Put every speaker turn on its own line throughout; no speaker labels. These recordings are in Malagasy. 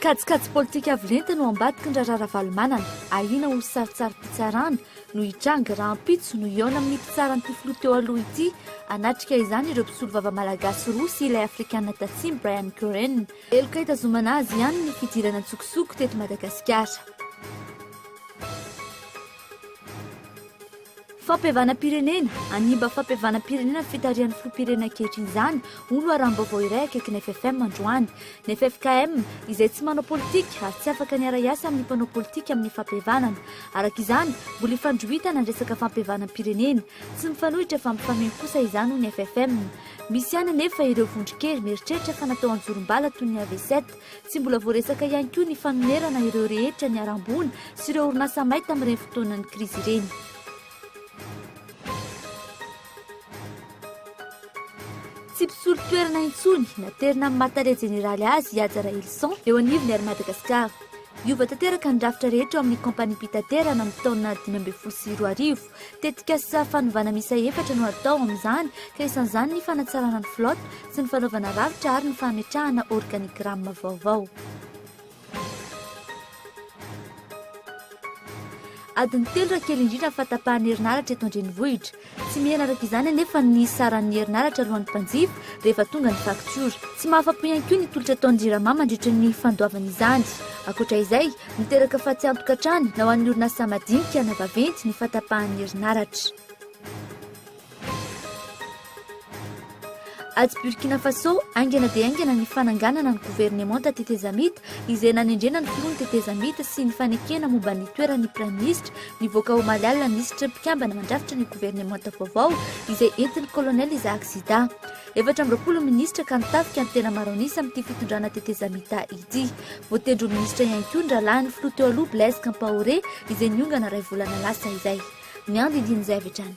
Kajikajy politika avo lenta no ambadiky ny raharaha Ravalomanana. Ahiana ho sarintsarim-pitsarana no hitranga raha ampitso no hihaona amin'ny mpitsaran'ity filoha teo aloha ity. Hanatrika izany ireo mpisolovava malagasy roa sy ilay afrikana tatsimo Brian Curren. Heloka hitazomana azy ihany ny fidirana an-tsokosoko teto Madagasikara. Fampihavanam-pirenena, hanimba fampihavanam-pirenena ny fitarihan'ny filoham-pirenena ankehitriny izany, hoy loharanom-baovao iray akaiky ny FFM androany. Ny ffkm, izay tsy manao politika ary tsy afaka ny hiara-hiasa amin'ny mpanao politika amin'ny fampihavanana. Araka izany, mbola hifandrohitana ny resaka fampihavanam-pirenena. Tsy mifanohitra fa mifameno kosa izany hoy ny FFM. Misy ihany anefa ireo vondron-kery mieritreritra fa natao an-jorom-bala toy ny AVC. Tsy mbola voaresaka ihany koa ny fanonerana ireo rehetra niharam-boina sy ireo orinasa may tamin'ireny fotoanan'ny krizy ireny. Tsy mpisolo toerana intsony, naterina amin'ny maha tale jeneraly azy i Haja Rahelison eo anivon'ny Air Madagascar. Hiova tanteraka ny rafitra rehetra ao amin'ny kaompaniam-pitaterana amin'ny taona dimy ambin'ny folo sy roa arivo. Tetikasa fanovana miisa efatra no atao amin'izany ka isan'izany ny fanatsarana ny flotte sy ny fanaovana rafitra ary ny fametrahana organigramme vaovao. Adiny telo raha kely indrindra ny fahatapahan'ny herinaratra eto an-drenivohitra. Tsy mihena araka izany anefa ny saran'ny herinaratra alohan'ny mpanjifa rehefa tonga ny faktiora. Tsy mahafa-po ihany koa ny tolotra ataon'ny Jirama mandritra ny fandoavana izany. Ankoatra izay, Miteraka fatiantoka hatrany na ho an'ny orinasa madinika na vaventy ny fatapahan'ny herinaratra. Atsy Burkina Faso, haingana dia haingana ny fananganana ny governemanta tetezamita izay nanendrena ny filoha ny tetezamita sy ny fanekena momba ny toeran'ny praiminisitra nivoaka omaly alina ny lisitry ny mpikambana mandrafitra ny governemanta vaovao izay entin'ny kolonely Isaac Sida. Efatra amby roapolo minisitra ka ny tafika no tena maro an'isa amin'ity fitondrana tetezamita ity. Voatendry ho minisitra ihany koa ny rahalahin'ny filoha teo aloha Blaise Kampaoré izay niongana iray volana lasa izay. Ny andindinin'izay avy hatrany.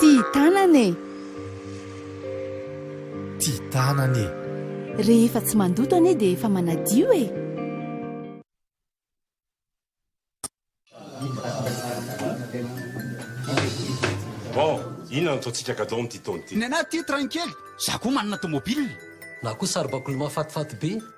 Tia tanana e!
Tia tanana e! Rehefa
tsy mandoto anie dia efa manadio e!
Bon, inona no ataontsika gadon amin'ity taona ity? Nenah tia train kely,
za koa manana tomobile. Na koa saribakoly
mahafatifaty be.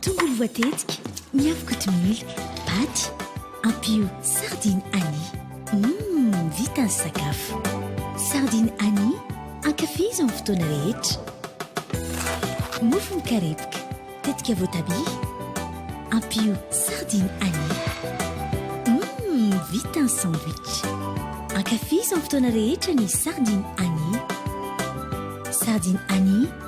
Tongolo voatetika, miavo kotomila, paty, ampio sardine Annie. Mmm, vita ny sakafo. Sardine Annie, ankafizo amin'ny fotoana rehetra. Mofo mikarepoka, tetika voatabia, ampio sardine Annie. Mmm, vita ny sandwich. Ankafizo amin'ny fotoana rehetra ny sardine Annie. Sardine Annie.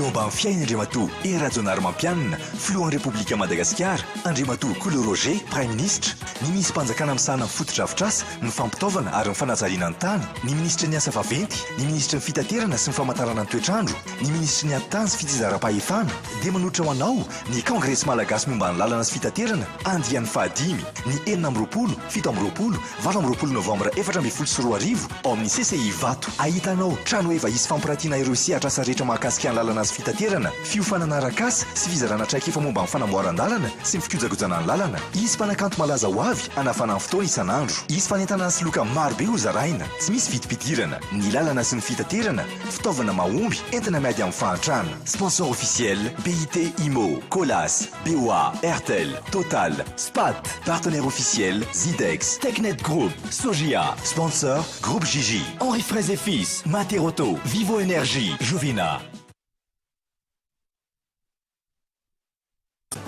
Eo ambany fiain' Andriamatoa Hery Rajaonarimampianina, Filohan' ny Repoblikan' i Madagasikara, Andriamatoa Kolo Roger, Praiminisitra, ny Minissim-panjakana misahana ny fotodrafitrasa, ny fampitaovana ary ny fanajariana ny tany, ny Minisitry ny Asa vaventy, ny Minisitry ny Fitaterana sy ny Famantarana ny toetrandro, ny Minisitry ny Atitany sy Fitsinjaram-pahefana, dia manolotra ho anao ny Kongresy Malagasy momba ny Lalana sy Fitaterana, andiany fahadimy, ny enina amby roapolo, fito amby roapolo, Valo amby roapolo novambra efatra ambin'ny folo sy roa arivo, ao amin'ny CCI Ivato. Ahitanao, Trano efa hisy fampirantiana ireo sehatr'asa rehetra mahakasika ny lalana sy fitaterana, fiofanana arak'asa sy fizarana traikefa momba ny fanamboaran-dalana sy ny fikojakojana ny lalana. Hisy mpanakanto malaza ho avy hanafana ny fotoana isan'andro. Hisy fanentanana sy loka marobe ho zaraina. Tsy misy vidim-pidirana. Ny lalana sy ny fitaterana, fitaovana mahomby, entina miady amin'ny fahantrana. Sponsor officiel, BIT Immo, Colas. BOA, Airtel, Total, Spat, Partenaire Officiel, Zidex, Technet Group, Sogia, Sponsor, Groupe JJ, Henri Fraise et Fils, Materauto, Vivo Energie, Jovina.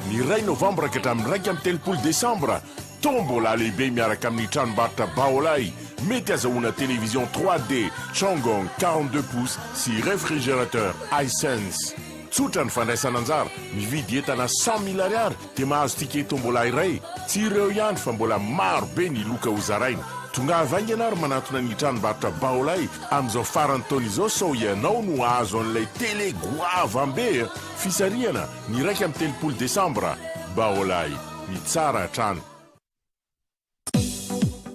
Ny iray novambra ka hatramin'ny iraika amby telopolo desambra. Tombola lehibe miaraka amin'ny tranombarotra Baolai, mety azahoana télévision 3D Changong quarante deux pouces sy réfrigérateur Hisense. Tsotra ny fandraisana anjara, mividy entana cent mille ariary dia mahazo ticket tombola iray. Tsy ireo ihany fa mbola maro be ny loka ho zaraina. Tongava haingana ary manantona ny tranombarotra Baolai amin'izao faran'ny taona izao sao ianao no hahazo an'ilay télé goavam-be e! Fisarihana ny iraika amby telopolo desambra, Baolay, ny tsara hatrany.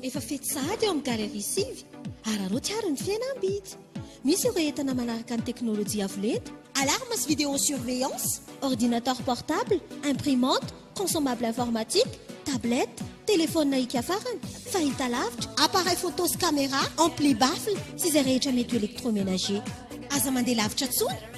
Efa fety sahady eo amin'ny Galerie sivy. Araraoty àry ny fihenam-bidy. Misy ireo entana manaraka ny teknolojia avo lenta, alarme sy vidéosurveillance, ordinateur portable, imprimante, consommable informatique, tablette, telefaonina hikafarana, fahitalavitra, appareil photo sy camera, ampli baffle sy izay rehetra mety ho électroménager. Aza mandeha lavitra intsony.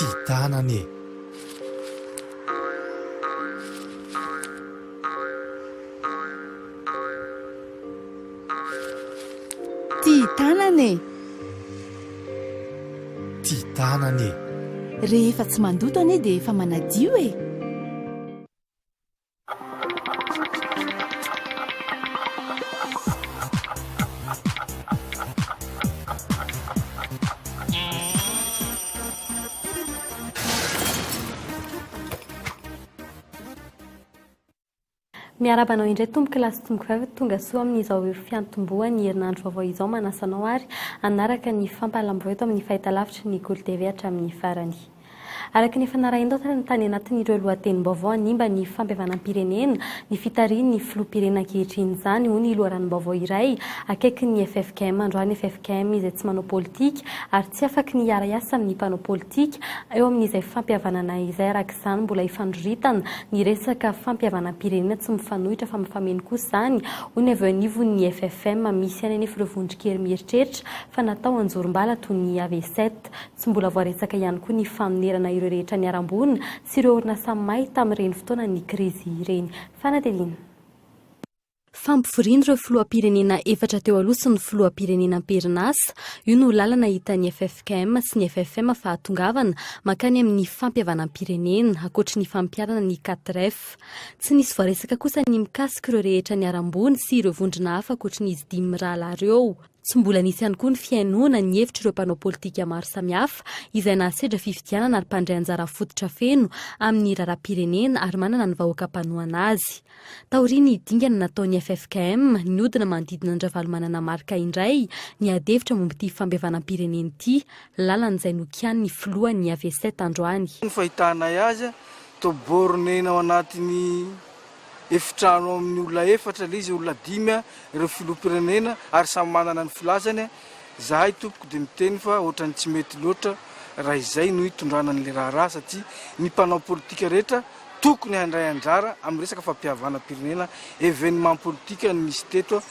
Ty tanana e!
Ty tanana e!
Ty tanana e! Rehefa tsy
mandoto anie dia efa manadio e!
Miarahaba anao indray tompoko lahy sy tompoko vavy tonga soa amin'izao fiantombohan'ny herinandro vaovao izao manasa anao ary hanaraka ny fampahalamboho eto amin'ny fahitalavitry ny Golo TV hatramin'ny farany. Araka ny efa narahin-doatra tany anatin'ireo lohatenim-baovao hanimba ny fampihavanam-pirenena ny fitarihin'ny filoham-pirenena ankehitriny izany, hoy ny loharanom-baovao iray akaikin'ny ffkm androany, ffkm izay tsy manao politika ary tsy afaky ny hiara-hiasa amin'ny mpanao politika eo amin'izay fampihavanana izay, araka izany mbola hifandroritana ny resaka fampihavanam-pirenena tsy mifanohitra fa mifameno kosa izany, hoy ny avy eo anivon'ny ffkm misy any anefa ireo vondron-kery mieritreritra fa natao anjorom-bala toy ny Avset. Tsy mbola voaretsaka ihany koa ny fanonerana ireo rehetra niharam-boina sy ireo orinasa may tamin'ireny fotoanan'ny krizy ireny. Fanadihadiana. Fampivorian'ireo filoham-pirenena efatra teo aloha sy ny filoham-pirenena am-perinasa, io no lalana hitan'ny ffkm sy ny ffm fahatongavana mankany amin'ny fampihavanam-pirenena, ankoatry ny fampiharana ny Catref. Tsy nisy voaresaka kosa ny mikasika ireo rehetra niharam-boina sy ireo vondrona hafa ankoatry ny izy dimy mirahalahy ireo. Tsy mbola nisy ihany koa ny fihainoana ny hevitr'ireo mpanao politika maro samihafa izay nahasedra fifidianana ary mpandray anjara fototra feno amin'ny raharaham-pirenena ary manana ny vahoaka mpanohana azy. Taorian'ny dingana nataon'ny ffkm, nihodina manodidina an-dRavalomanana Marc indray niady hevitra momba ity fampihavanam-pirenena ity, lalana izay nokianin'ny filohan'ny Avset androany. Ny fahitanay
azy, toa borne ny ao anatin'ny efitrano amin'ny olona efatra ilay izy, olona dimy ireo filoham-pirenena ary samy manana ny filazany, izahay tompoko dia miteny fa ohatran'ny tsy mety loatra raha izay no hitondrana an'ilay raharaha satria ny mpanao politika rehetra tokony handray anjara amin'ny resaka fampihavanam-pirenena, événement politique no misy teto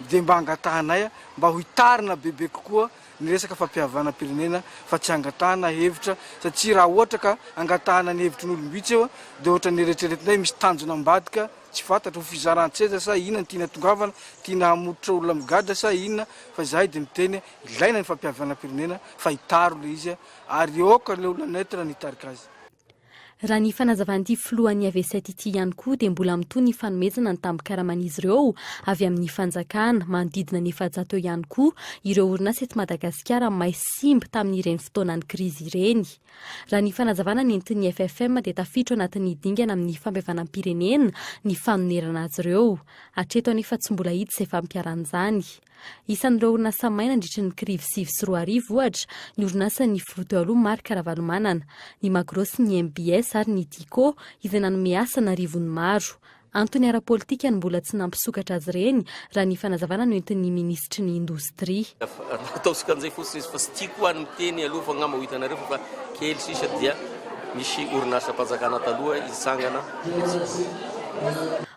dia mba angatahanay mba ho hitarina bebe kokoa. ny resaka fampihavanam-pirenena fa tsy hangatahana hevitra satria raha ohatra ka hangatahana ny hevitry ny olom-bitsy eo dia ohatran'ny eretreretina hoe misy tanjona ambadika tsy fantatra, ho fizaran-tseza sa inona no tiana hatongavana, tiana hamototra olona migadra sa inona fa izahay dia miteny ilaina ny fampihavanam-pirenena fa hitaro ilay izy ary aoka ilay olona neutre no hitarika azy. Raha ny
fanazavan'ity filohan'ny Avest ity ihany koa dia mbola mitohy ny fanomezana ny tambin-karaman'izy ireo avy amin'ny fanjakana. Manodidina ny efajato eo ihany koa ireo orinasa eto Madagasikara may simba tamin'ireny fotoanan'ny krizy ireny. Raha ny fanazavana nentin'ny FFM dia tafiditra anatin'ny dingana amin'ny fampihavanam-pirenena ny fanonerana azy ireo. Hatreto anefa tsy mbola hita izay fampiharana izany. Isan'ireo orinasa may nandritry ny kirivo sivy sy roa arivo, ohatra, ny orinasan'ny filoha teo aloha Marc Ravalomanana, ny Magro sy ny MBS ary ny Tiko, izay nanome asa an'arivony maro. Antony ara-politika no mbola tsy nampisokatra azy ireny, raha ny fanazavana noentin'ny minisitry ny Indostria. Ataontsika an'izay
fotsiny izy fa tsy tiako ho'a ny miteny aloha fa angamba ho hitanareo fa kely sisa dia misy orinasam-panjakana taloha hitsangana.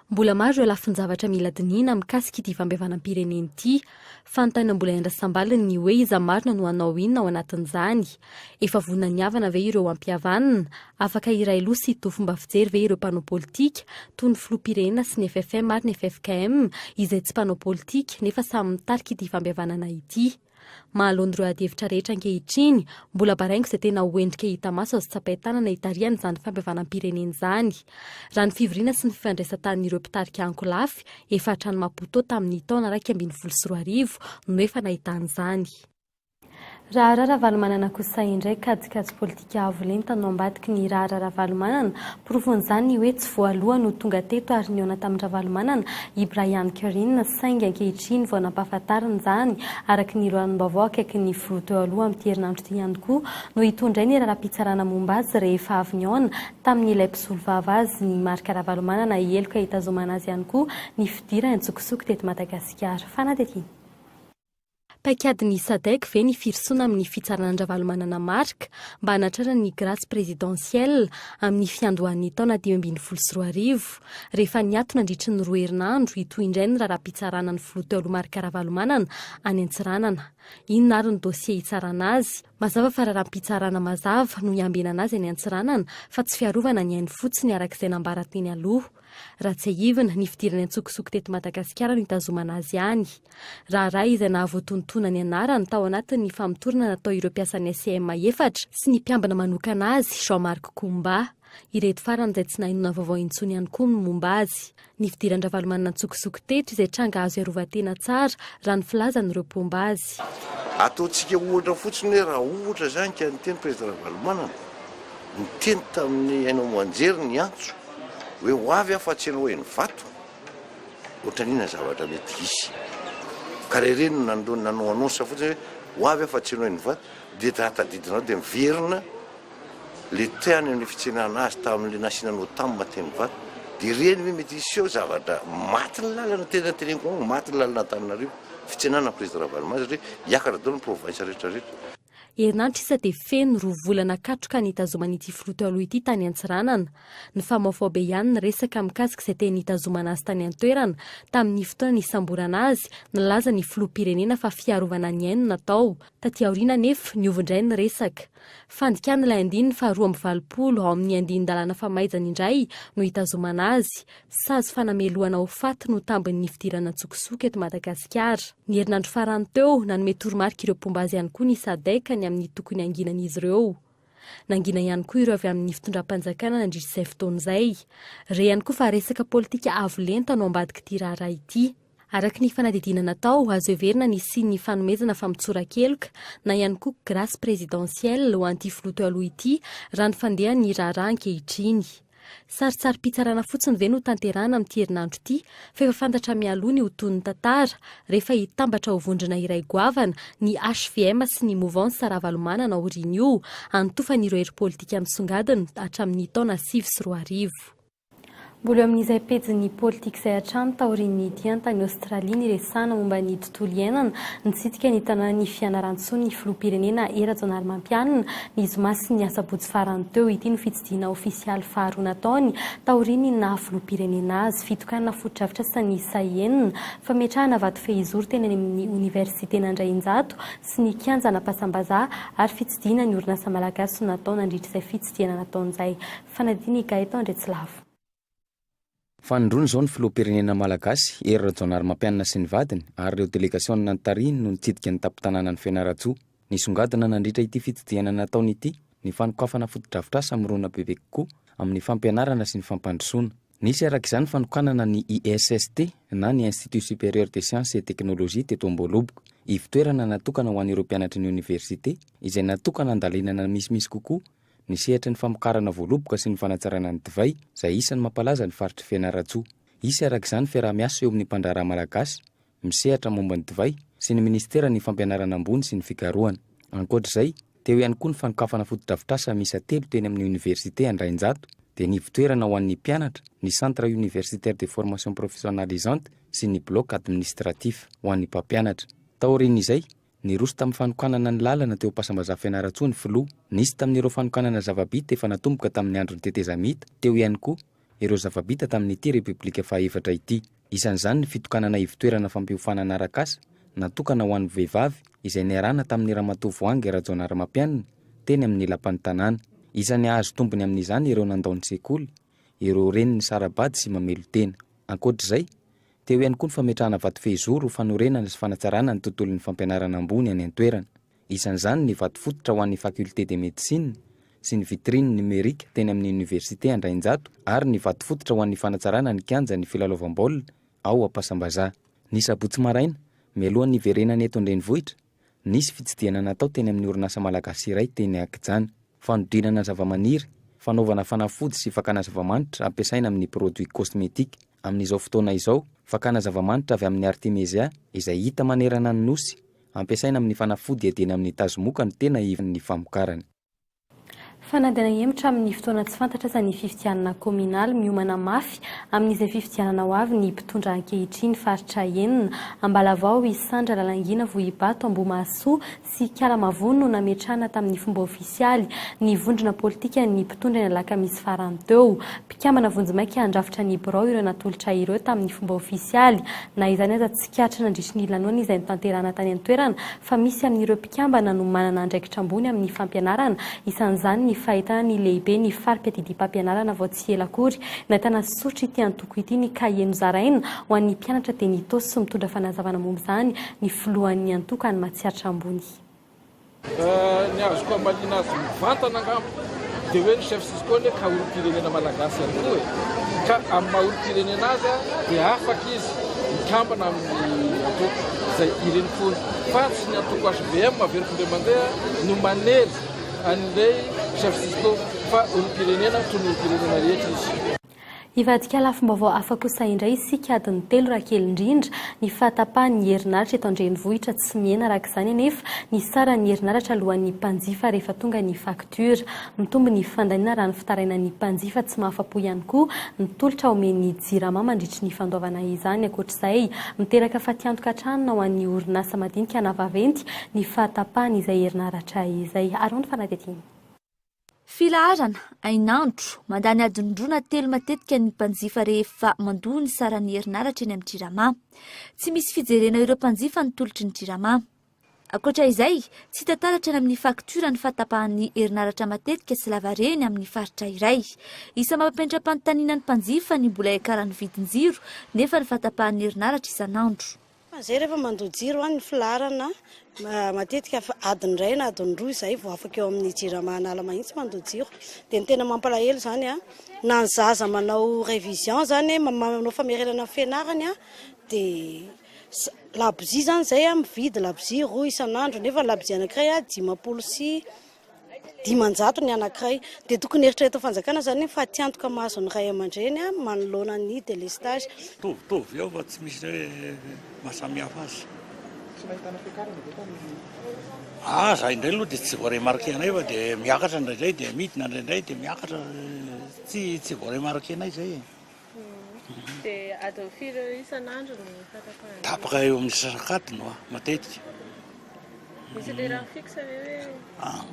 Mbola maro ireo lafin-javatra mila dinihina mikasika ity fampihavanam-pirenena ity. Fanontany na mbola iandrasambaliny ny hoe iza marina no hanao inona ao anatin'izany. Efa vonona ny havana ve ireo hampihavanina? Afaka hiray loha sy hitohy fomba fijery ve ireo mpanao politika, toy ny filoham-pirenena sy ny FFM ary ny ffkm, izay tsy mpanao politika, nefa samy mitarika ity fampihavanana ity? Mahaloana ireo adihevitra rehetra ankehitriny, mbola baraingo izay tena ho endrika hita maso azo tsapain-tanana hitarihana izany fampihavanam-pirenena izany. Raha ny fivoriana sy ny fifandraisan-tanin'ireo mpitarika ankolafy, efa hatrany Maputo tamin'ny taona iraika ambin'ny folo sy roa arivo no efa nahitana izany. Raharaha Ravalomanana kosa indray, kajikajy politika. Dia avo lenta no ambadiky ny raharaha Ravalomanana. Porofon'izany ny hoe tsy voaloha no tonga teto ary nihaona tamin-dRavalomanana i Brian Kerrine saingy ankehitriny vao nampahafantarina izany araka ny loharam-baovao akaiky ny filoha teo aloha amin'ity herinandro ity ihany koa no hitondray ny raharaham-pitsarana momba azy rehefa avy nihaona tamin'ilay mpisolovava azy ny Marc Ravalomanana heloka hitazomana azy ihany koa ny fidirany an-tsokosoko teto Madagasikara. Fanadihadiana. Paikadin'ny Sadec ve ny firosoana amin'ny fitsarana an-dRavalomanana Marc mba hanatrarany ny grace présidentielle amin'ny fiandohan'ny taona dimy ambin'ny folo sy roa arivo, rehefa niato nandritry ny roa herinandro hitohy indray ny raharaham-pitsarana ny filoha teo aloha Marc Ravalomanana any Antsiranana? Inona ary ny dossier hitsarana azy? Mazava fa raharaham-pitsarana mazava no hiambenana azy any Antsiranana fa tsy fiarovana ny ainy fotsiny araka izay nambara teny aloha. Raha tsiahivina, ny fidirany an-tsokosoko teto Madagasikara no hitazomana azy any. Raharaha izay nahavoatoantoana ny anarany tao anatin'ny famotorana natao ireo mpiasan'ny SCM efatra sy ny mpiambina manokana azy, Jean Marc Coumba. Ireto farany izay tsy nahainona vaovao intsony ihany koa ny momba azy. Ny fidiran-dRavalomanana an-tsokosoko teto izay tranga azo iarovan-tena tsara raha ny filazan'ireo mpomba azy. Ataontsika
ohatra fotsiny hoe raha ohatra izany ka niteny Prezida Ravalomanana, niteny tamin'ny haino aman-jery ny antso hoe ho avy aho fa tsy ianao eny Ivato, ohatran'ny inona ny zavatra mety hisy? Ka raha ireny no nanao annonce fotsiny hoe ho avy aho fa tsy ianao eny Ivato dia raha tadidinareo dia miverina le teany ny fitsenana azy taminle nasiana notam teny var de ireny ve mety hiseho zavatra maty ny lalana tena teneniko aminy maty ny lalana Antananarivo fitsenana président Ravaloman satria hiakatra daholo ny province rehetra rehetra. Herinandro sisa
dia feno roa volana katroka nitazoman'ity filoha teo aloha ity tany Antsiranana. Nifamaofao be ihany ny resaka mikasika izay teny nitazomana azy tany an-toerana tamin'ny fotoana nisamborana azy, nilaza ny filoham-pirenena fa fiarovana ny ainy no natao. Taty aoriana anefa, niova indray ny resaka. Fandikana ilay andininy faharoa amby valopolo ao amin' ny andinin-dalàna famaizana indray no itazomana azy. Sazy fanamelohana ho faty no tambin' ny fidirana an-tsokosoko eto Madagasikara. Ny herinandro farany teo, nanome toromarika ireo mpomba azy ihany koa ny Sadec ny amin' ny tokony hanginany izy ireo. Nangina ihany koa ireo avy amin' ny fitondram-panjakana nandritra izay fotoana izay. Re ihany koa fa resaka pôlitika avo lenta no ambadiky ity raharaha ity. Araka ny fanadihadiana natao, azo heverina ny hisian'ny hifanomezana fa mitsora-keloka, na ihany koa grace présidentielle, ho an'ity filoha teo aloha ity, raha ny fandehan'ny raharaha ankehitriny. Sarintsarim-pitsarana fotsiny ve no tanterahana amin'ity herinandro ity, fa efa fantatra mialoha ny ho tohin'ny tantara, rehefa hitambatra ho vondrona iray goavana ny hvm sy ny Mouvance Ravalomanana aorian'io, hanotofan'ireo hery politika misongadina hatramin'ny taona sivy sy roa arivo. Mbola eo amin'izay pejin'ny politika izay hatrany taorian'ny nidihany tany Aostralia niresahana momba ny tontolo iainana, nitsidika ny tanànan'i Fianarantsoa ny filoham-pirenena Hery Rajaonarimampianina ny zoma sy ny asabotsy farany teo. Ity no fitsidihana ofisialy faharoa nataony taorian'ny naha filoham-pirenena azy. Fitokanana fotodrafitrasa niisa enina, fametrahana vato fehizoro teny any amin'ny oniversiten'Andrainjato sy ny kianjan'Ampasambazaha ary fitsidihana ny orinasa malagasy no natao nandritra izay fitsidihana nataony izay. Fanadino i Gaëtan Andriatsilavo.
Fanindroany izao ny filoham-pirenena malagasy, Hery Rajaonarimampianina sy ny vadiny ary ireo delegasiona notarihiny no nitsidika ny tampon-tanànan'i Fianarantsoa. Nisongadina nandritra ity fitsidihana nataony ity ny fanokafana fotodrafitrasa mirona bebe kokoa amin'ny fampianarana sy ny fampandrosoana. Nisy araka izany fanokanana ny ISST na ny Institut Supérieur des Sciences et Technologies teto Amboholoboka. Ivo-toerana natokana ho an'ireo mpianatry ny oniversite izay natokana handalinana misimisy kokoa ny sehatry ny famokarana voaloboka sy ny fanatsarana ny divay, izay isan'ny mampalaza ny faritr'i Fianarantsoa. Hisy araka izany fiaraha-miasa eo amin'ny mpandraharaha malagasy misehatra momba ny divay sy ny minisiteran'ny Fampianarana ambony sy ny fikarohana. Ankoatra izay, teo ihany koa ny fanokafana fotodrafitrasa miisa telo teny amin'ny oniversite Andrainjato, dia ny ivotoerana ho an'ny mpianatra, ny Centre Universitaire de Formation Professionnalisante sy ny Bloc Administratif ho an'ny mpampianatra. Taorian'izay, Niroso tamin'ny fanokanana ny lalana teo Ampiasambazaha Fianarantsoa ny Filoha. Nisy tamin'ireo fanokanana zava-bita efa natomboka tamin'ny andron'ny tetezamita, teo ihany koa ireo zava-bita tamin'ity Repoblika fahaefatra ity. Isan'izany ny fitokanana ivon-toerana fampiofanana arak'asa natokana ho an'ny vehivavy izay niarahana tamin'ny Ramatoa Voahangy Rajaonarimampianina teny amin'ny Lapan'ny Tanàna. Isan'ny hahazo tombony amin'izany ireo nandao ny sekoly, ireo reny nisara-bady sy mamelo-tena. Ankoatr'izay, Teo ihany koa ny fametrahana vatofehizoro ho fanorenana sy fanatsarana ny tontolon'ny fampianarana ambony any an-toerana. Isan'izany ny vato fototra ho an'ny Faculté de Médecine sy ny vitrine numérique teny amin'ny Université Andrainjato ary ny vato fototra ho an'ny fanatsarana ny kianjan'ny filalaovam-baolina ao Ampasambazaha. Ny sabotsy maraina, mialohan'ny hiverenany eto an-drenivohitra, Nisy fitsidihana natao teny amin'ny orinasa malagasy iray teny Akijana. Fanodinana zavamaniry, fanaovana fanafody sy fakana zavamanitra ampiasaina amin'ny produits cosmetiques. Amin'izao fotoana izao, fakana zavamanitra avy amin'ny Artemisia, izay hita manerana ny Nosy, ampiasaina amin'ny fanafody edena amin'ny tazomoka no tena ivan'ny famokarana.
Fanadihana hihemotra amin'ny fotoana tsy fantatra aza ny fifidianana kaominaly. Miomana mafy amin'izay fifidianana ho avy ny mpitondra ankehitriny. Faritra enina, Ambalavao, Isandra, Lalangina, Vohibato, Ambohimahasoa sy Ikala Mavony no nametrahana tamin'ny fomba ofisialy ny vondrona politikan'ny mpitondra ny alakamisy farany teo. Mpikambana vonjimaika handrafitra ny birao ireo natolotra ireo tamin'ny fomba ofisialy. Na izany aza, tsikaritra nandritry ny lanoana izay notanterahana tany an-toerana fa misy amin'ireo mpikambana no manana andraikitra ambony amin'ny fampianarana, isan'izany ny fahitana ny lehibe ny fari-piadidiam-pampianarana vao tsy ela akory. Nahitana soritry ity antoko ity ny kahie nozaraina ho an'ny mpianatra dia nitosy sy mitondra fanazavana momba izany ny filohan'ny antoko any Matsiatra Ambony. Ny azoko
hamaliana azy mivantana angamba. dia hoe ny chef Cisco anie ka olom-pirenena malagasy ihany koa e! ka amin'ny maha olom-pirenena azy dia afaka izy mikambana amin'ny antoko izay irenim-pony fa tsy ny antoko HBM avy ery findray mandeha no manery an'ilay chef Cisco fa olom-pirenena toy ny olom-pirenena rehetra izy. Hivadika
lafim-baovao hafa kosa indray isika adiny telo raha kely indrindra. Ny fahatapahan'ny herinaratra eto an-drenivohitra tsy mihena araka izany anefa ny saran'ny herinaratra alohan'ny mpanjifa rehefa tonga ny faktiora. Mitombo ny fandaniana raha ny fitarainan'ny mpanjifa tsy mahafa-po ihany koa ny tolotra omen'ny Jirama mandritry ny fandoavana izany. Ankoatra izay, miteraka fatiantoka hatrany ho an'ny orinasa madinika na vaventy ny fahatapahan'izay herinaratra izay. Arao ny fanadihadiana.
Filaharana, hainandro, mandany adin-droa na telo matetika ny mpanjifa rehefa mandoa ny saran'ny herinaratra eny amin'ny Jirama. Tsy misy fijerena ireo mpanjifa ny tolotry ny Jirama. Ankoatra izay, tsy hita taratra any amin'ny faktiora ny fahatapahan'ny herinaratra matetika sy lavareny amin'ny faritra iray. Isan'ny mampiantra-panontaniana ny mpanjifa ny mbola hiakaran'ny vidin-jiro nefa ny fahatapahan'ny herinaratra isan'andro. Fa izay rehefa mandoa
jiro an, ny filaharana matetika adiny iray na adiny roa izay vao afaka eo amin'ny jirama an'ala mahitsy mandoa jiro. Dia ny tena mampalahelo izany an, na ny zaza manao révision izany, manao famerenana ny fianarany an, dia labozia izany izay an, mividy labozia roa isan'andro, nefa ny labozia anankiray an dimampolo sy dimanjato ny anankiray dia tokony eritreretin'ny fanjakana izany ny fatiantoka mahazo ny ray aman-dreny manoloana ny délestage. Mitovitovy eo fa
tsy misy hoe mahasamihafa azy. Tsy nahitana fiakarana ve tamin'ny. Ah, za indray aloha dia tsy voaremarquer-nay fa dia miakatra indraindray dia midina indraindray dia miakatra. Tsy tsy voaremarquer-nay izay e. Dia
adiny firy eo isan'andro ny fahatapahan-jiro? Tapaka eo amin'ny
sasakadiny hoa,
matetika. Misy lera fixe ve hoe? Ah.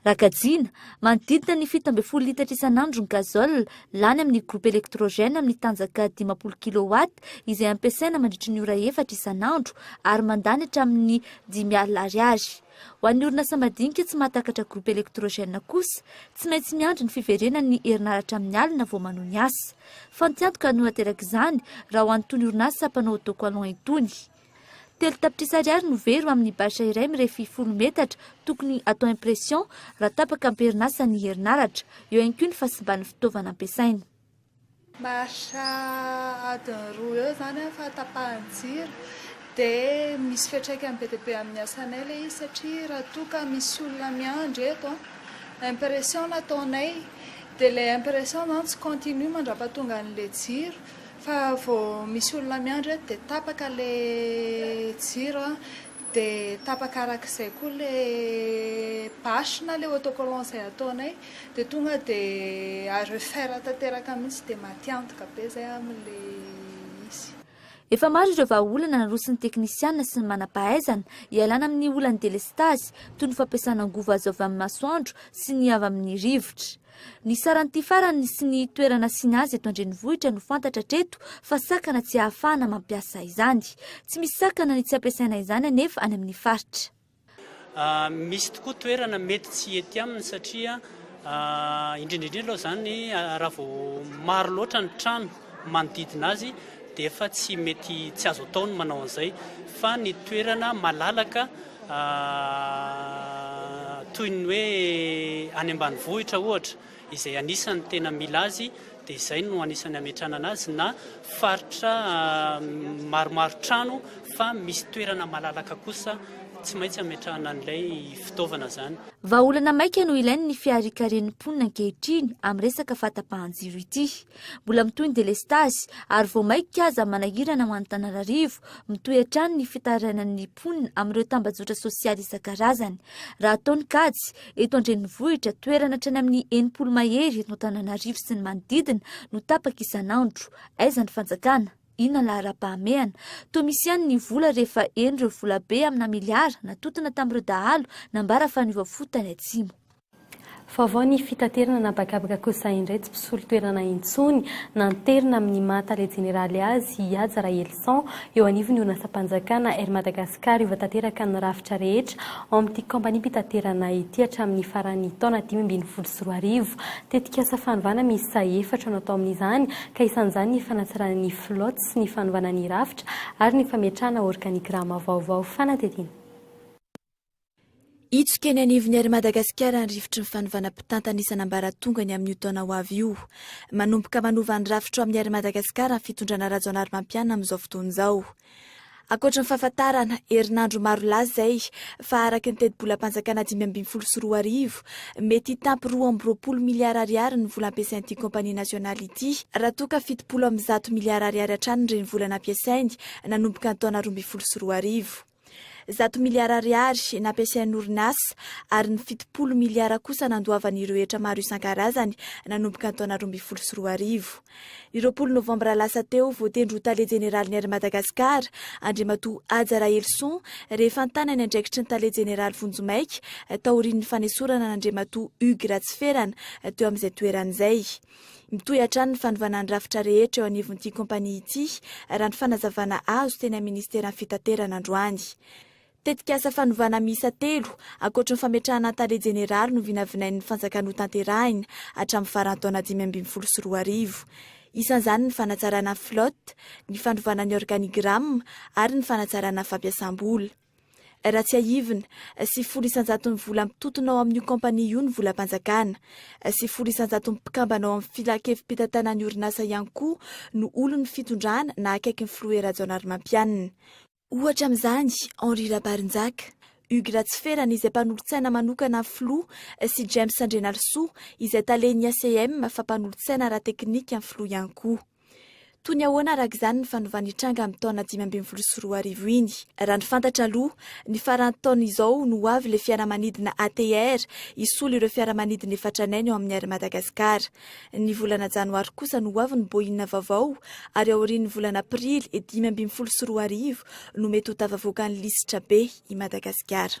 Raha
kajiana, manodidina ny fito ambin'ny folo litatra isan'andro ny gazole lany amin'ny groupe électrogène amin'ny tanjaka dimampolo kilowatt izay ampiasaina mandritry ny ora efatra isan'andro ary mandany hatramin'ny dimy alina ariary. Ho an'ny orinasa madinika tsy mahatakatra groupe électrogène kosa, tsy maintsy miandry ny fiverenan'ny herinaratra amin'ny alina vao manoa ny asa. Fantiantoka no naterak'izany, raha ho an'itony orinasa mpanao docollon itony. Telo tapitrisa ariary no very ho amin'ny bâche iray mirefy folo metatra tokony atao impression raha tapaka am-perinasa ny herinaratra. Eo ihany koa ny fahasimban'ny fitaovana ampiasaina. Maharitra
adiny roa eo izany ny fahatapahan'ny jiro dia misy fiantraikany be dia be amin'ny asanay ilay izy satria raha toa ka misy olona miandry eto an, impression no ataonay dia ilay impression izany tsy continue mandra-pahatonga an'ilay jiro fa vao misy olona miandry eto dia tapaka ilay jiro an, Dia tapaka araka izay koa ilay bâche na ilay autocollant izay ataonay, dia tonga dia à refaire tanteraka mihitsy, dia matiantoka be izay amin'ilay izy. Efa maro
ireo vahaolana naroson'ny teknisiana sy ny manam-pahaizana hialana amin'ny olan'ny delestazy, toy ny fampiasana angovo azo avy amin'ny masoandro sy ny avy amin'ny rivotra. Ny saran'ity farany sy ny toerana asiana azy eto an-drenivohitra no fantatra hatreto fa sakana tsy ahafahana mampiasa izany. Tsy misy sakana ny tsy ampiasaina izany anefa any amin'ny faritra.
Misy tokoa toerana mety tsy hety aminy satria indrindra indrindra aloha izany raha vao maro loatra ny trano. manodidina azy dia efa tsy mety tsy azo atao ny manao an'izay fa ny toerana malalaka toy ny hoe any ambanivohitra ohatra izay anisan'ny tena mila azy dia izay no anisan'ny ametranana azy na faritra maromaro trano fa misy toerana malalaka kosa tsy maintsy ametrahana an'ilay fitaovana izany. Vahaolana maika no
ilain'ny fiharikaren'ny mponina ankehitriny amin'ny resaka fahatapahan-jiro ity. Mbola mitohy ny delestazy ary vao maika aza manahirana ho an'Antananarivo, mitohy hatrany ny fitarainan'ny mponina amin'ireo tambajotra sosialy isan-karazany. Raha atao ny kajy, eto an-drenivohitra, toerana hatrany amin'ny enimpolo mahery eto Antananarivo sy ny manodidina no tapaka isan'andro. Aiza ny fanjakana? Inona ny laharam-pahamehana? Toa misy ihany ny vola rehefa heno ireo volabe amina miliara natotona tamin'ireo dahalo nambara fa niova fo tany atsimo. Vaovao
ny fitaterana an'habakabaka kosa indray tsy mpisolo toerana intsony. Nanterina amin'ny maha tale jeneraly azy i Haja Rahelison eo anivon'ny orinasam-panjakana Air Madagascar hiova tanteraka ny rafitra rehetra ao amin'ity kaompaniam-pitaterana ity hatramin'ny faran'ny taona dimy ambin'ny folo sy roa arivo. Tetikasa fanovana miisa efatra no atao amin'izany ka isan'izany ny fanatsarana ny flotte sy ny fanovana ny rafitra ary ny fametrahana organigramme vaovao. Fanadihadiana.
Hitsoka eny anivon'ny Air Madagasikara ny rifotry ny fanovana mpitantana isan'ambaratongany amin'io taona ho avy io. Manomboka manova ny rafitra ao amin'ny Air Madagasikara ny fitondrana Rajaonarimampianina amin'izao fotoana izao. Ankoatry ny fahafantarana, herinandro maro lasa izay, fa araka ny tetibolam-panjakana dimy ambin'ny folo sy roa arivo, mety hitampy roa amby roapolo miliara ariary ny vola ampiasain'ity kaompania nasionaly ity, raha toa ka fitopolo amby zato miliara ariary hatrany ny renivola nampiasainy nanomboka ny taona roa ambin'ny folo sy roa arivo. Zato miliara ariary nampiasain'ny orinasa ary ny fitopolo miliara kosa nandoavan'ireo hetra maro isan-karazany nanomboka ny taona roa ambin'ny folo sy roa arivo. Ny roapolo novambra lasa teo, voatendry ho tale jeneralin'ny Air Madagascar Andriamatoa Haja Rahelison rehefa nitana ny andraikitry ny tale jeneraly vonjimaika taorian'ny fanesorana an'Andriamatoa Hugues Ratsiferana teo amin'izay toerana izay. Mitohy hatrany ny fanovana ny rafitra rehetra eo anivon'ity kaompania ity, raha ny fanazavana azo teny amin'ny Minisiteran'ny Fitaterana androany. Tetikasa fanovana miisa telo, ankoatry ny fametrahana Tale Jeneraly no vinavinain'ny Fanjakana hotanterahina hatramin'ny faran'ny taona dimy ambin'ny folo sy roa arivo. Isan'izany ny fanatsarana ny flotte, ny fanovana ny organigramme ary ny fanatsarana fampiasam-bola. Raha tsiahivina, sy folo isan-jaton'ny vola mitontona ao amin'io kaompania io ny volam-panjakana. Sy folo isan-jaton'ny mpikambana ao amin'ny filan-kevi-pitantanan'ny orinasa ihany koa no olon'ny fitondrana na akaikin'ny filoha Herajaonarimampianina. Ohatra amin'izany, Henri Rabarinjaka, Hugues Ratsiferana izay mpanolotsaina manokana ny filoha sy James Andrianarisoa izay talen'ny ACM fa mpanolotsaina ara-teknika ny filoha ihany koa. Toy ny ahoana araka izany ny fanovana nitranga amin'ny taona dimy ambin'ny folo sy roa arivo iny? Raha ny fantatra aloha, ny faran'ny taona izao no ho avy ilay fiaramanidina ATR hisolo ireo fiaramanidina efa tranainy ao amin'ny Air Madagascar. Ny volana janoary kosa no ho avy ny Boeing vaovao ary aorian'ny volana aprily dimy ambin'ny folo sy roa arivo no mety ho tafavoaka ny lisitra be i Madagasikara.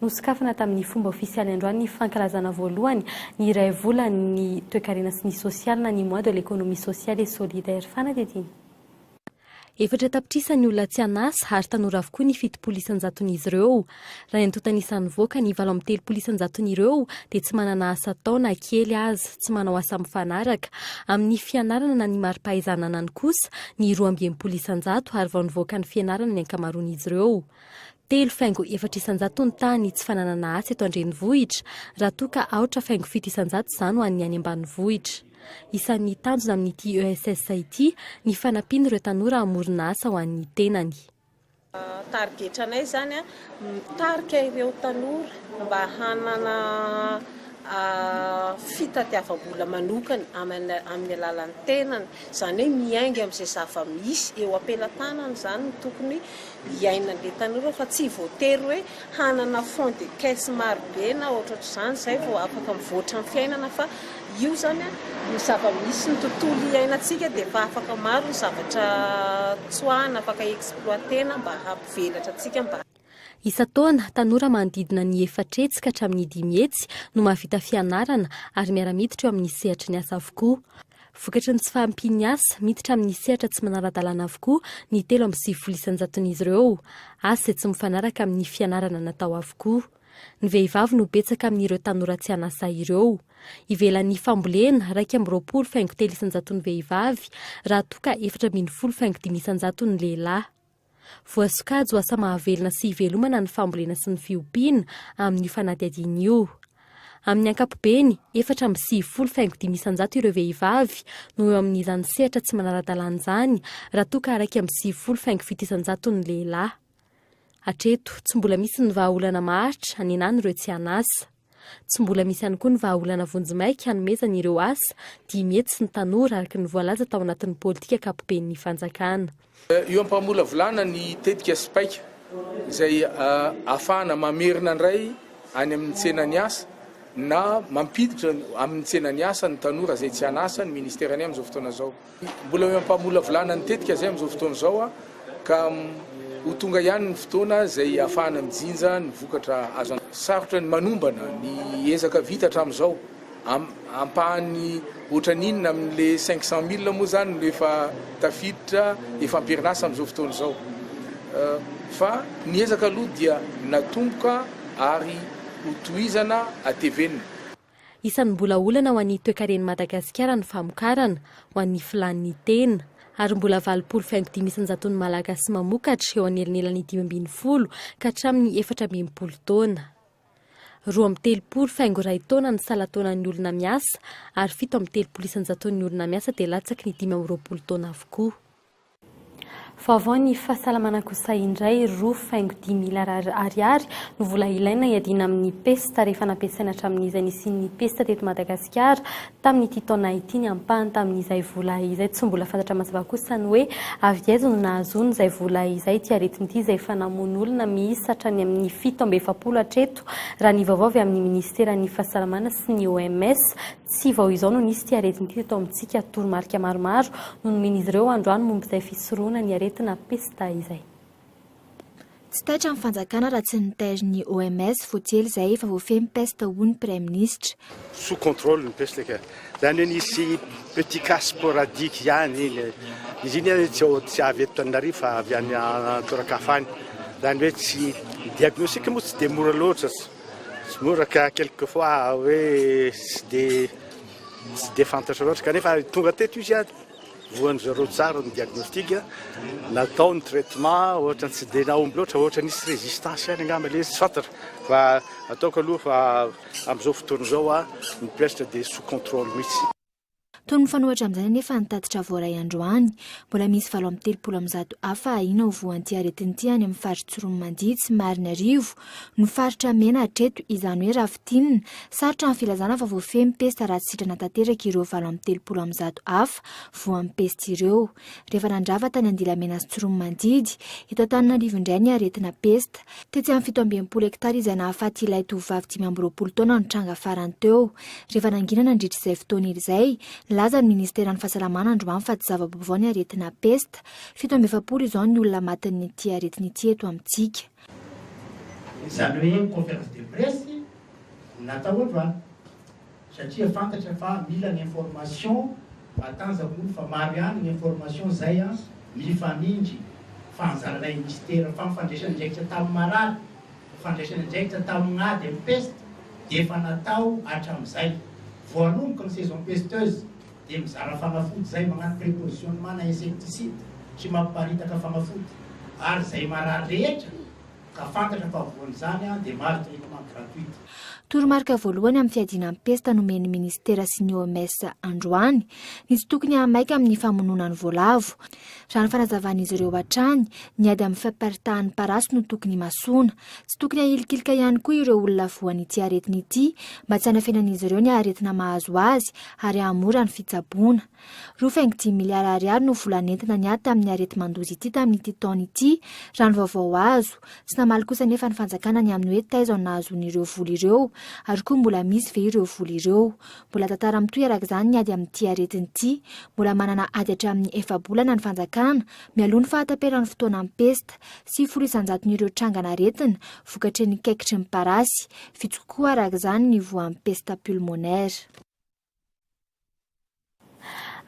Nosokafana tamin'ny fomba ofisialy androany ny fankalazana voalohany ny iray volan'ny toekarena sy ny sosialy na ny Mois de l'Economie Sociale et Solidaire. Fanadihadiana. Efatra tapitrisa ny olona tsy an'asa ary tanora avokoa ny fitopolo isan-jaton'izy ireo. Raha ny antontan'isa nivoaka, ny valo amby telopolo isan-jaton'ireo dia tsy manana asa atao na kely aza, tsy manao asa mifanaraka amin'ny fianarana na ny mari-pahaizananany kosa ny roa amby enimpolo isan-jato ary vao nivoaka ny fianarana ny ankamaroan'izy ireo. telo faingo efatra isan-jato ny tahan'ny tsy fananana asa eto an-drenivohitra, raha toa ka aotra faingo fito isan-jato izany ho an'ny any ambanivohitra. Isan'ny tanjona amin'ity ESS ity ny fanampian'ireo tanora hamorona asa ho an'ny tenany.
Tarigetranay izany ny mitarika ireo tanora mba hanana fitadiavam-bola manokana amin'ny alalan'ny tenany, izany hoe miainga amin'izay zava-misy eo am-pelatanany izany no tokony iainany le tanora fa tsy voatery hoe hanana fond de caisse maro be na ohatrohatr'izany zay vao afaka mivoatra ny fiainana fa io zany a ny zava-misy ny tontolo iainantsika dia efa afaka maro ny zavatra tsoahina afaka exploitena mba hampivelatra antsika mba Isan-taona,
tanora manodidina ny efatra hetsy ka hatramin'ny dimy hetsy no mahavita fianarana ary miara-miditra eo amin'ny sehatry ny asa avokoa. Vokatry ny tsy fahampian'ny asa, miditra amin'ny sehatra tsy manara-dalàna avokoa ny telo amby sivifolo isan-jaton'izy ireo, asa izay tsy mifanaraka amin'ny fianarana natao avokoa. Ny vehivavy no betsaka amin'ireo tanora tsy an'asa ireo. Ivelan'ny fambolena, iraika amby roapolo faingo telo isan-jaton'ny vehivavy, raha toa ka efatra ambin'ny folo faingo dimy isan-jaton'ny lehilahy. Voasokajy ho asa mahavelona sy ivelomana ny fambolena sy ny fiompiana amin'io fanadihadiana io. Amin'ny ankapobeny, efatra amby sivifolo faingo dimy isan-jato ireo vehivavy no eo amin'izany sehatra tsy manara-dalàna izany raha toa ka iraika amby sivifolo faingo fito isan-jato ny lehilahy. Hatreto, tsy mbola misy ny vahaolana maharitra hanenana ireo tsy an'asa. Tsy mbola misy ihany koa ny vahaolana vonjimaika hanomezana ireo asa dimy hetsy ny tanora araka ny voalaza tao anatin'ny politika ankapoben'ny fanjakana. Eo
am-pamolavolana ny tetika Spaika izay ahafahana mamerina indray any amin'ny tsenan'ny asa na mampiditra amin'ny tsenan'ny asa ny tanora izay tsy an'asa ny Ministera ny amin'izao fotoana izao. Mbola eo am-pamolavolana ny tetika izay amin'izao fotoana izao ka ho tonga ihany ny fotoana izay hahafahana mijinja ny vokatra azo antoka. Sarotra ny manombana ny ezaka vita hatramin'izao. Ampahany ohatran'inona amin'ilay cinq cent mille moa izany no efa tafiditra, efa am-perinasa amin'izao fotoana izao. Fa ny ezaka aloha dia natomboka ary hotohizana, hatevenina. Isan'ny
mbola olana ho an'ny toekaren'i Madagasikara ny famokarana, ho an'ny filàn'ny tena. Ary mbola valopolo faingo dimy isan-jaton'ny Malagasy mamokatra eo anelanelan'ny dimy ambin'ny folo ka hatramin'ny efatra amby enimpolo taona. Roa amby telopolo faingo iray taona ny salan-taonan'ny olona miasa ary fito amby telopolo isan-jaton'ny olona miasa dia latsaky ny dimy amby roapolo taona avokoa. Vaovao ny fahasalamana kosa indray, roa faingo dimy miliarara ariary no vola ilaina hiadiana amin'ny pesta rehefa nampiasaina hatramin'izay nisian'ny pesta teto Madagasikara tamin'ity taona ity ny ampahany tamin'izay vola izay. Tsy mbola fantatra mazava kosa ny hoe avy aiza no nahazoany izay vola izay ity aretina ity izay efa namono olona miisa hatrany amin'ny fito amby efapolo hatreto raha ny vaovao avy amin'ny minisiteran'ny fahasalamana sy ny OMS Tsy vao izao no nisy ity aretina ity teto amintsika, toromarika maromaro no nomen'izy ireo androany momba izay fisorohana ny aretina pesta izay.
Tsy taitra ny fanjakana raha tsy nitair ny OMS vao tsy ela izay efa voafehy ny pesta hoy ny Praiminisitra. Sous contrôle
ny pesta ka. Izany hoe nisy petit cas sporadique ihany iny. Izy iny ary tsy ao, tsy avy eto Tananarivo fa avy any an-toeran-kafa any. Izany hoe tsy, ny diagnostic moa tsy dia mora loatra. Tsy mora ka quelques fois hoe tsy dia tsy dia fantatra loatra kanefa tonga teto izy ary voan'ny zareo tsara ny diagnostic natao ny traitement ohatra tsy dia nahomby loatra ohatra nisy résistance ihany angamba ilay izy tsy fantatra fa ataoko aloha fa amin'izao fotoana izao a mipetratra dia sous contrôle mihitsy. Toy ny mifanohitra
amin'izany anefa ny tatitra voaray androany. Mbola misy valo amby telopolo amin'ny zato hafa ahiana ho voan'ity aretina ity any amin'ny faritry Tsiroanomandia, tsy Marinarivo, no faritra mena hatreto, izany hoe raha fintinina. Sarotra ny filazana fa voafehin'ny pesta raha tsy sitrana tanteraka ireo valo amby telopolo amin'ny zato hafa voan'ny pesta ireo. rehefa nandrava tany Andilamena sy Tsiroanomandidy. Eto Antananarivo indray ny aretina pesta. Tetsy amin'ny fito amby enimpolo hektara izay nahafaty ilay tovovavy dimy amby roapolo taona no tranga farany teo. Rehefa nangina nandritra izay fotoana irzay, nilaza ny Ministeran'ny Fahasalamana androany fa tsy zava-baovao ny aretina pesta. Fito amby efapolo izao ny olona matin'ity aretina ity eto amintsika. Izany hoe
conférence de presse natao androany. Satria fantatra fa mila ny information matanjaka olo fa maro ihany ny information zay an mifamindry fa anjaranay Mister fa ny fandraisany andraikitra tam marary fandraisany andraikitra tam ady am peste dia efa natao atramzay voanomboka ny saison pesteuse dia mizara fanafody zay magnano prepositionne mana insecticide sy mapiparitaka fanafody ary zay marary rehetra Ka fantatra fa voan'izany dia mahazo télécommande gratuite. Toromarika
voalohany amin'ny fiadiana ny pesta nomen'ny minisitera sy ny OMS androany ny tsy tokony hahamaika amin'ny famonoana ny voalavo. Raha ny fanazavan'izy ireo hatrany, ny ady amin'ny fampiparitahan'ny parasy no tokony himasoana. Tsy tokony hahilikilika ihany koa ireo olona voan'ity aretina ity mba tsy hanafenan'izy ireo ny aretina mahazo azy ary hahamora ny fitsaboana. Roa faingo dimy miliara ariary no vola nentina niady tamin'ny areti-mandoza ity tamin'ity taona ity, raha ny vaovao azo. Tsy namaly kosa anefa ny fanjakana ny amin'ny hoe taiza no nahazoany ireo vola ireo, ary koa mbola misy ve ireo vola ireo. Mbola tantara mitohy araka izany ny ady amin'ity aretina ity. Mbola manana ady hatramin'ny efa-bolana ny fanjakana, mialoha ny fahataperan'ny fotoanan'ny pesta. Sivifolo isan-jaton'ireo trangan'aretina vokatry ny kaikitry ny parasy. Vitsy kokoa araka izany ny voan'ny pesta pulmonaire.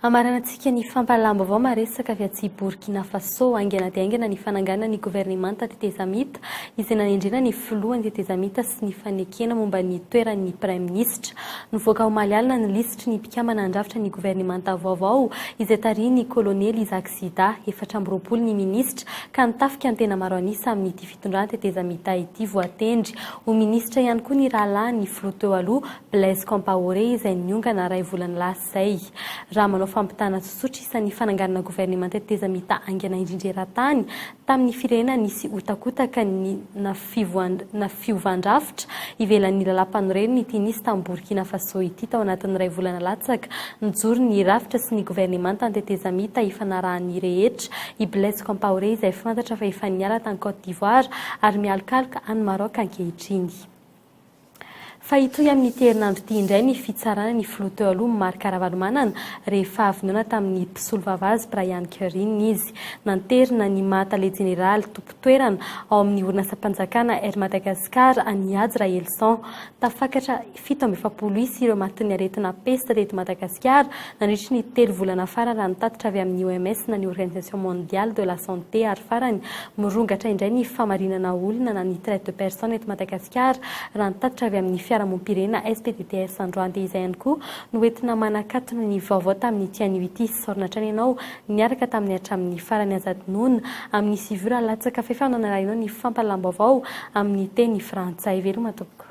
Hamaranantsika ny fampahalam-baovao maresaka avy aty Borkina Fasô. Haingana dia haingana ny fananganana ny governemanta tetezamita izay nanendrena ny filohan'ny tetezamita sy ny fanekena momba ny toeran'ny praiminisitra. Nivoaka omaly alina ny lisitry ny mpikambana handrafitra ny governemanta vaovao izay tarihin'ny kolonely Isaac Sida. Efatra amby roapolo ny minisitra ka ny tafika ny tena maro an'isa amin'ity Mpitondran'ny tetezamita ity voatendry ho minisitra ihany koa ny rahalahin'ny filoha teo aloha Blaise Compaoré izay niongana iray volana lasa izay. Raha manao fampitana tsotsotra isa ny fananganana governemanta tetezamita haingana indrindra eran-tany tamin'ny firenena nisy hotakotaka ny na fiovan-drafitra ivelan'ny lalam-panorenana ity nisy tany Borkina Faso ity tao anatin'ny iray volana latsaka. Nijoro ny rafitra sy ny governemanta ny tetezamita ifanarahan'ny rehetra i Blaise Compaoré izay fantatra fa efa niala tany Côte d'Ivoire ary mialokaloka any Maroc ankehitriny. Fa hitohy amin'ity herinandro ity indray ny fitsarana ny filoha teo aloha Marc Ravalomanana rehefa avy noana tamin'ny mpisolovava azy Brian Kerryn izy. Nanterina ny maha tale jeneraly tompon-toerana ao amin'ny orinasam-panjakana Air Madagascar an'i Hajo Rahelison. Tafakatra Fito amby efapolo isa ireo matin'ny aretina pesta teto Madagasikara nandritry ny telo volana farany raha ny tatitra avy amin'ny OMS na ny Organisation Mondiale de la Santé ary farany mirongatra indray ny famarinana olona na ny traite de personne eto Madagasikara raha ny tatitra avy amin'ny fiarahamompirena SPDTS androande izay ihany koa no entina manakatona ny vaovao tamin'ity anio ity saorina hatrany ianao niaraka tamin'ny hatramin'ny farany azadinoana amin'ny sivy ora latsaka fahefana nalainao ny fampalalam-baovao amin'ny teny frantsay veloma tompoko.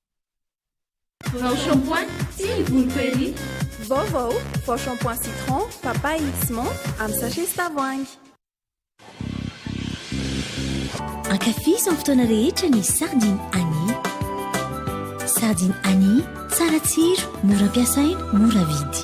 Vao shampoing sy ny volo prairie. Vaovao,
vao shampoing citron, papaye sy menthe amin'ny sachet sy tavoahangy.
Ankafizo amin'ny fotoana rehetra ny sardine Annie. Sardine Annie, tsara tsiro, mora ampiasaina, mora vidy.